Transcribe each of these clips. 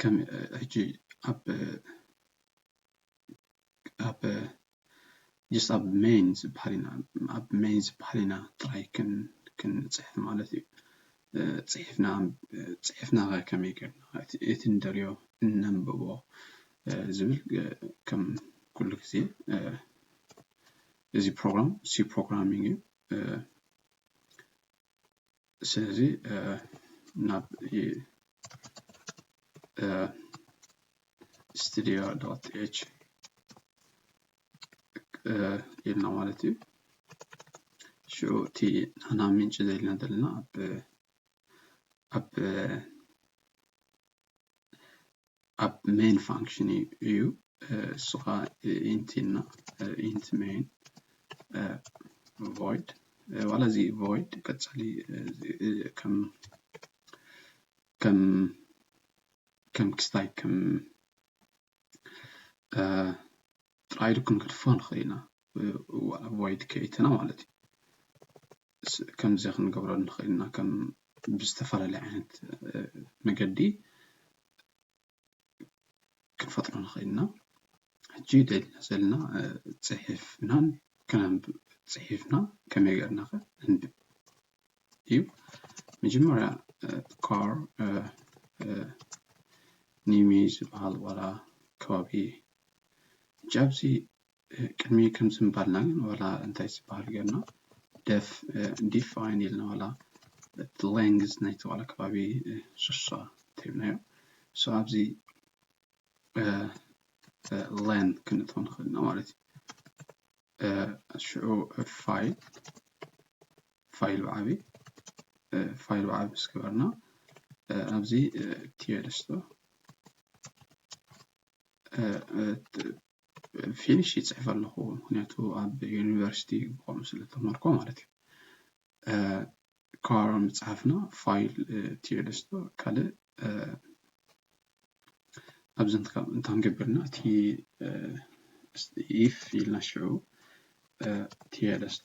ከም ሕጂ ኣብ ኣብ ጀስት ኣብ ሜይን ዝበሃል ኢና ኣብ ሜይን ዝበሃል ኢና ጥራይ ክንጽሕፍ ማለት እዩ ጽሒፍና ጽሒፍና ከ ከመይ ጌርና እቲ ንደልዮ እነንብቦ ዝብል ከም ኩሉ ግዜ እዚ ፕሮግራም ሲ ፕሮግራሚንግ እዩ። ስለዚ ናብ ስትድዮ ዶት ኤች ኢልና ማለት እዩ ሽዑ እቲ ናና ምንጭ ዘኢልና ዘለና ኣብ ኣብ ኣብ ሜን ፋንክሽን እዩ እሱ ከዓ ኢንት ኢልና ኢንት ሜን ቮይድ ዋላ እዚ ቮይድ ቀፃሊ ከም ከም ከም ክስታይ ከም ጥራይ ዶ ክንገድፎ ንኽእል ኢና ቮይድ ከይትና ማለት እዩ ከምዚ ክንገብሮ ንኽእል ኢና ከም ብዝተፈላለየ ዓይነት መገዲ ክንፈጥሮ ንኽእል ኢና ሕጂ ደሊና ዘለና ጽሒፍናን ከነንብብ ጽሒፍና ከመይ ጌርና ከ ነንብብ እዩ መጀመርያ ካር ኒሚ ዝበሃል ዋላ ከባቢ ሕጂ ኣብዚ ቅድሚ ከምዚ ምባልና ግን ዋላ እንታይ ዝበሃል ጌርና ደፍ ዲፋይን ኢልና ዋላ እቲ ላንግዝ ናይቲ ዋላ ከባቢ ስሳ እንተይብናዮ ሶ ኣብዚ ለን ክንእትዎ ንኽእል ኢና ማለት እዩ ሽዑ ፋይል ፋይል ብዓቢ ፋይል ብዓቢ ምስ ገበርና ኣብዚ ቲዮደስቶ ፊኒሽ ይጽሕፍ ኣለኹ ምክንያቱ ኣብ ዩኒቨርሲቲ ብከምኡ ስለ ተማሃርኩ ማለት እዩ ካራ ምጽሓፍና ፋይል ቲዮደስቶ ካልእ ኣብዚ እንትከብ እንታንገብርና እቲ ኢፍ ኢልና ሽዑ ቲዮደስቶ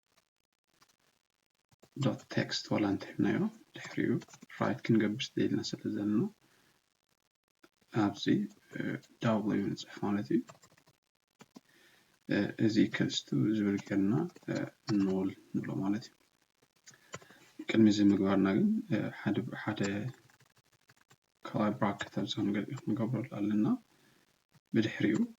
ዶት ቴክስት ዋላ እንተሂብናዮ ድሕሪኡ ራይት ክንገብር ስደልና ስለ ዘለና ኣብዚ ዳብሊው ንፅሕፍ ማለት እዩ እዚ ከልስቱ ዝብል ጌርና ኖል ንብሎ ማለት እዩ ቅድሚ እዚ ምግባርና ግን ሓደ ሓደ ካልኣይ ብራከት ኣብዚ ክንገብረሉ ኣለና ብድሕሪኡ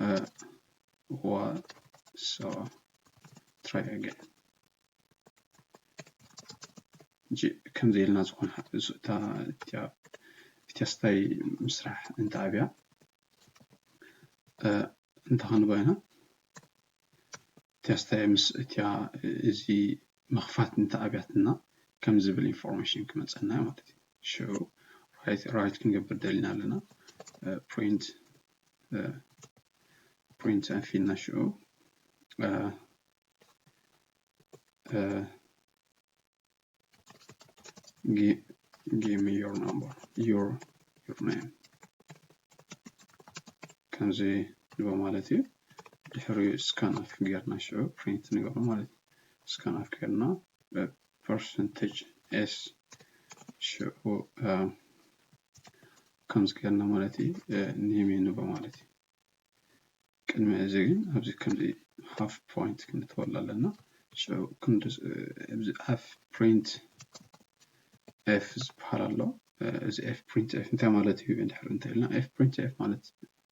uh, what so try again ከምዚ ኢልና ዝኾነ እታ ቴስታይ ምስራሕ እንተኣብያ እንተኸንበይና ተስታይ ምስ እትያ እዚ ምኽፋት እንተ ኣብያትና ከምዚ ዝብል ኢንፎርሜሽን ክመጸና እዩ ማለት እዩ ሽዑ ራይት ራይት ክንገብር ደሊና ኣለና ፕሪንት ፕሪንት ኣንፊልና ሽዑ Give, give me your number, your, your name. ከምዚ ንቦ ማለት እዩ ድሕሪ ስካን ኣፍ ጌርና ሽዑ ፕሪንት ንገብሮ ማለት እዩ ስካን ኣፍ ጌርና ፐርሰንቴጅ ኤስ ሽዑ ከምዚ ጌርና ማለት እዩ ኔሜ ንቦ ማለት እዩ ቅድሚ እዚ ግን ኣብዚ ከምዚ ሃፍ ፖይንት ክንተወላ ኣለና ሽዑ ክንድዚ እዚ ሃፍ ፕሪንት ኤፍ ዝበሃል ኣሎ እዚ ኤፍ ፕሪንት ኤፍ እንታይ ማለት እዩ እንድሕር እንተኢልና ኤፍ ፕሪንት ኤፍ ማለት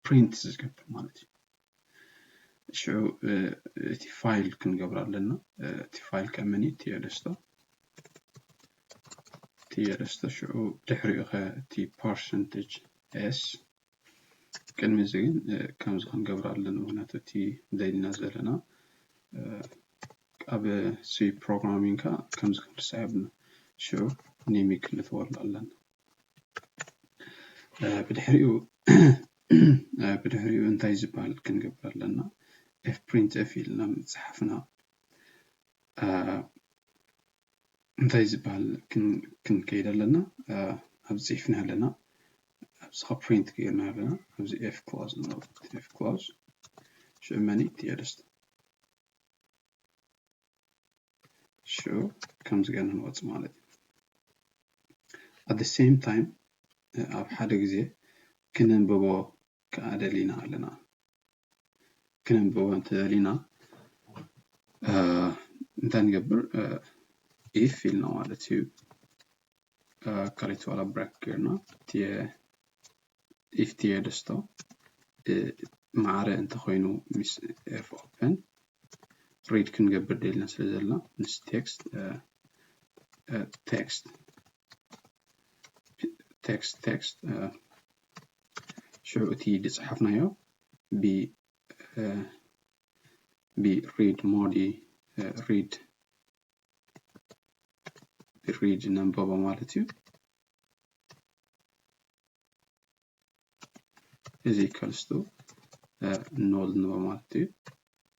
ፕሪንት ዝገብር ማለት እዩ ሽዑ እቲ ፋይል ክንገብር ኣለና እቲ ፋይል ከመን እዩ ቲየደስቶ ቲየደስቶ ሽዑ ድሕሪኡ ከ እቲ ፐርሰንቴጅ ኤስ ቅድሚ እዚ ግን ከምዚ ክንገብር ኣለና ምክንያቱ እቲ ደሊና ዘለና ኣብ ሲ ፕሮግራሚንግ ከ ከምዚ ክንርስዕ የብልና ሽዑ ኒሚ ክንእትወሉ ኣለና ብድሕሪኡ ብድሕሪኡ እንታይ ዝበሃል ክንገብር ኣለና ኤፍ ፕሪንት ኤፍ ኢልና ምፅሓፍና እንታይ ዝበሃል ክንከይድ ኣለና ኣብዚ ፅሒፍና ኣለና ኣብዚ ካብ ፕሪንት ገይርና ኣለና ኣብዚ ኤፍ ክላውዝ ኤፍ ክላውዝ ሽዑ መን እዩ ቲኤልስት ሽዑ ከምዚ ገና ንወፅ ማለት እዩ ኣት ሴም ታይም ኣብ ሓደ ግዜ ክነንብቦ ከዓ ደሊና ኣለና ክነንብቦ እንተደሊና እንታይ ንገብር ኢፍ ኢልና ማለት እዩ ካልኦት ዋላ ብራክ ጌርና ኢፍ ቲየ ደስቶ ማዕረ እንተኮይኑ ምስ ኤፍ ኦፕን ሪድ ክንገብር ደልና ስለ ዘለና ምስ ቴክስት ቴክስት ቴክስት ቴክስት ሽዑ እቲ ዝጸሓፍናዮ ብ ብ ሪድ ሞድ ሪድ ብሪድ ነንበቦ ማለት እዩ እዚ ከልስቱ ኖል ንበ ማለት እዩ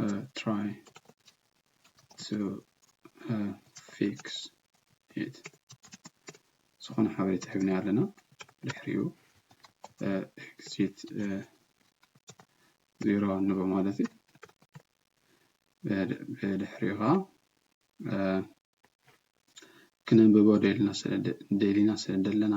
uh, try to uh, fix it ዝኾነ ሓበሬታ ሂብና ኣለና ድሕሪኡ ኤግዚት ዜሮ ንቦ ማለት እዩ ብድሕሪኡ ከዓ ክነንብቦ ደሊና ስለ ደለና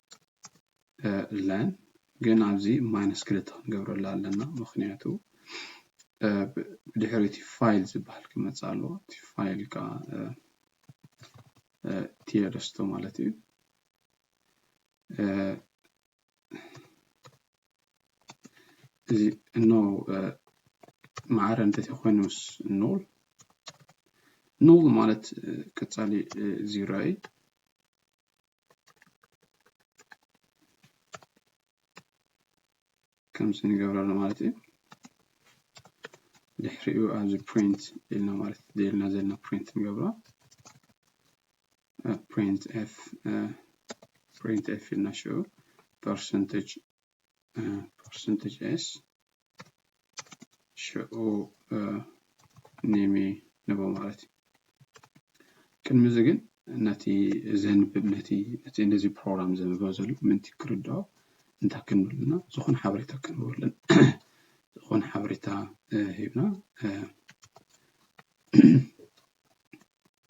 ለን ግን ኣብዚ ማይነስ ክልተ ክንገብረላ ኣለና ምክንያቱ ብድሕሪ እቲ ፋይል ዝበሃል ክመፅእ ኣለዎ እቲ ፋይል ከዓ ቲየደስቶ ማለት እዩ እዚ እኖ ማዕረ እንተት ኮይኑስ ኖል ኖል ማለት ቀፃሊ ዚሮ እዩ ከምዚ ንገብሮ ኣሎ ማለት እዩ ድሕሪኡ ኣብዚ ፕሪንት ኢልና ማለት ደልና ዘለና ፕሪንት ንገብሮ ፕሪንት ኤፍ ፕሪንት ኤፍ ኢልና ሽዑ ፐርሰንቴጅ ፐርሰንተጅ ኤስ ሽዑ ኔሜ ንቦ ማለት እዩ ቅድሚ እዚ ግን ነቲ ዘንብብ ነቲ ነቲ ነዚ ፕሮግራም ዘንብቦ ዘሎ ምንቲ ክርድኦ እንታይ ክንብልና ዝኾነ ሓበሬታ ክንብልን ዝኾነ ሓበሬታ ሂብና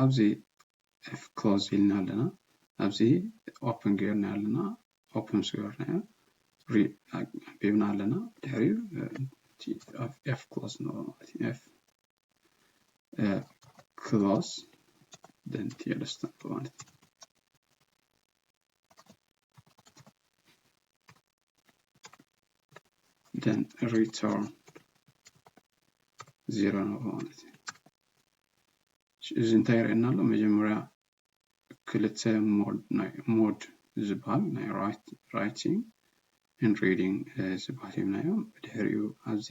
ኣብዚ ኤፍ ክሎዝ ኢልና ኣለና ኣብዚ ኦፕን ገይርና ኣለና ኦፕን ምስ ገበርናዮ ሪቢብና ኣለና ድሕሪኡ ኤፍ ክሎዝ ንብሎ ማለት እዩ ኤፍ ክሎዝ ደንቲ የደስተንብሎ ማለት እዩ then return ዜሮ ነው ማለት እዩ እዚ እንታይ ይርእየና ኣሎ መጀመርያ ክልተ ሞድ ናይ ሞድ ዝበሃል ናይ ራይቲንግ ን ሪዲንግ ዝበሃል ሂብናዮ ብድሕሪኡ ኣብዚ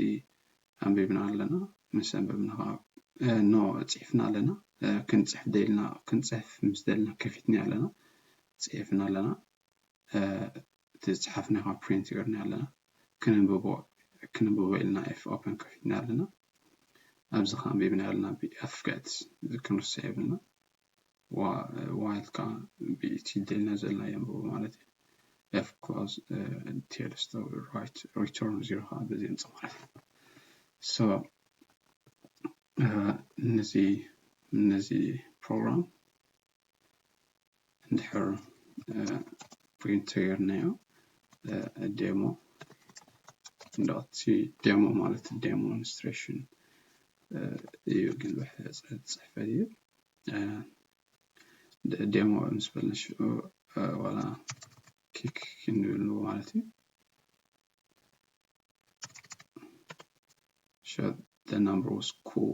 ኣንቢብና ኣለና ምስ ኣንበብና ከዓ ኖ ፅሒፍና ኣለና ክንፅሕፍ ደልና ክንፅሕፍ ምስ ደልና ከፊትና ኣለና ፅሒፍና ኣለና እቲ ዝጸሓፍናዮ ካብ ፕሪንት ገርናዮ ኣለና ክንንብቦ ክንንብቦ ኢልና ኤፍ ኦፐን ከፊትና ኣለና ኣብዚ ከ ኣንቢብናዮ ኣለና ብኤፍ ገጽ ክንርሳ የብልና ዋይል ከ ብኢቲ ደልና ዘለና የንብቦ ማለት እዩ ኤፍ ክሎዝ ቴልስ ራይት ሪተርን ዚሮ ከ በዚ የምጽ ማለት እዩ ሶ ነዚ ነዚ ፕሮግራም እንድሕር ፕሪንት ተገርናዮ ዴሞ እንዳቲ ዴሞ ማለት ዴሞንስትሬሽን እዩ ግን ብሕፅሕፈት እዩ ዴሞ ምስ በልና ሽዑ ዋላ ኪክ ክንብል ንብሎ ማለት እዩ ሸ the number was cool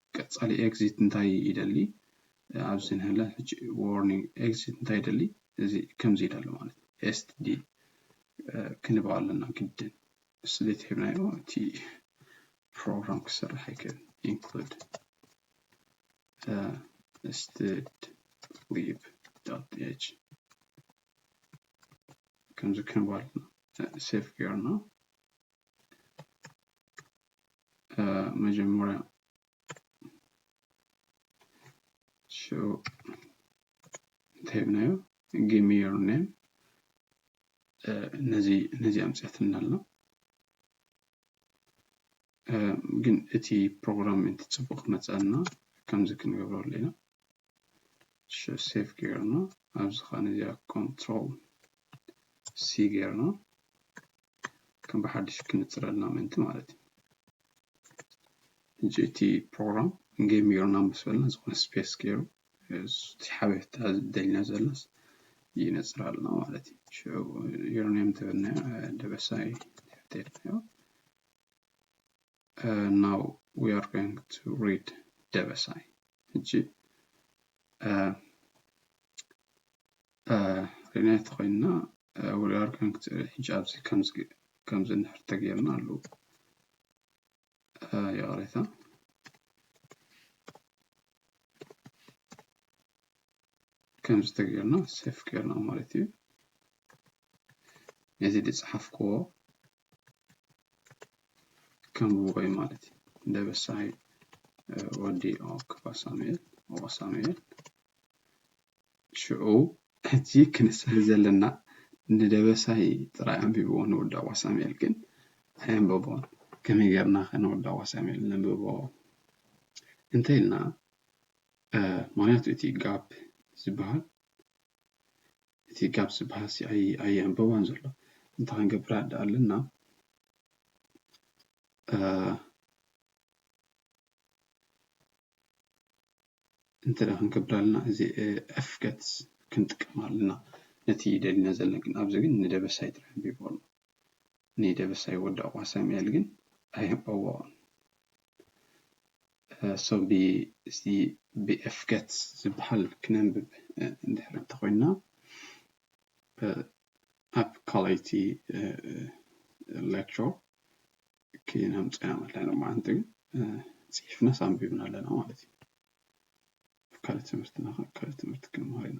ቀጻሊ ኤግዚት እንታይ ይደሊ ኣብዚ ንህለ ሕጂ ዎርኒንግ ኤግዚት እንታይ ይደሊ እዚ ከምዚ ይደሊ ማለት እዩ ኤስት ዲ ክንባ ኣለና ግድን ስሌት ሂብናዮ እቲ ፕሮግራም ክሰርሕ ኣይክእል ኢንክሉድ ስትድ ሊብ ዳት ኤች ከምዚ ክንባ ኣለና ሴፍ ጌርና መጀመሪያ ሸው እንተሂብናዮ ጊሚ ዮር ኔም ነዚ ነዚ ኣምፅኣትና ኣሎ ግን እቲ ፕሮግራም እቲ ፅቡቅ መፀና ከምዚ ክንገብሮ ኣለና ሸ ሴፍ ገይርና ኣብዚ ኸን እዚኣ ኮንትሮል ሲ ገይርና ከም ብሓድሽ ክንፅረልና ምእንቲ ማለት እዩ ሕጂ እቲ ፕሮግራም ጌም ገይሩና ምስ በልና ዝኾነ ስፔስ ገይሩ እቲ ሓበሬታ ደልና ዘሎስ ይነፅራልና ማለት እዩ ሽዑ ዩሮኒየም ተበልና ደበሳይ ተሕተልናዮ ናው ዊ ኣር ጎይንግ ቱ ሪድ ደበሳይ ሕጂ ሪናይ ተኮይንና ዊ ኣር ጎይንግ ቱ ሕጂ ኣብዚ ከምዚ ከምዚ እንድሕር ተገይርና ኣለዉ ይቕሬታ ከምዚ ተገይርና ሴፍ ገይርና ማለት እዩ ነዚ ዝፀሓፍክዎ ከምኡ ወይ ማለት እዩ ደበሳይ ወዲ ክፋ ሳሙኤል ኦቆ ሳሙኤል ሽዑ ሕጂ ክንስብ ዘለና ንደበሳይ ጥራይ ኣንቢብዎ ንወዲ ኣቋ ሳሙኤል ግን ኣየንበቦን ከመይ ጌርና ከ ንወዲ ኣቋ ሳሙኤል ነንብቦ እንተ ኢልና ምክንያቱ እቲ ጋፕ ዝበሃል እቲ ጋብ ዝብሃልሲ ኣይዕንበቦን ዘሎ እንታይ ክንገብር ኣደ ኣለና እንተ ክንገብር ኣለና እዚ ኤፍገትስ ክንጥቀም ኣለና ነቲ ደሊና ዘለና ግን ኣብዚ ግን ንደበሳይ ጥራሕ ኣንቢቡ ኣሎ ንደበሳይ ወዲ ዕቑባ ሳሙኤል ግን ኣይህበዎን። So ብ እዚ ብ F Gets ዝበሃል ክነንብብ እንድሕር እንተኾይንና ኣብ ካልኣይቲ lecture ክነምጾ ኢና ማለት ሎማዓንቲ ጽሒፍናስ ኣንቢብና ኣለና ማለት እዩ። ኣብ ካልእ ትምህርትና ካልእ ትምህርቲ ክንመሃር ኢና።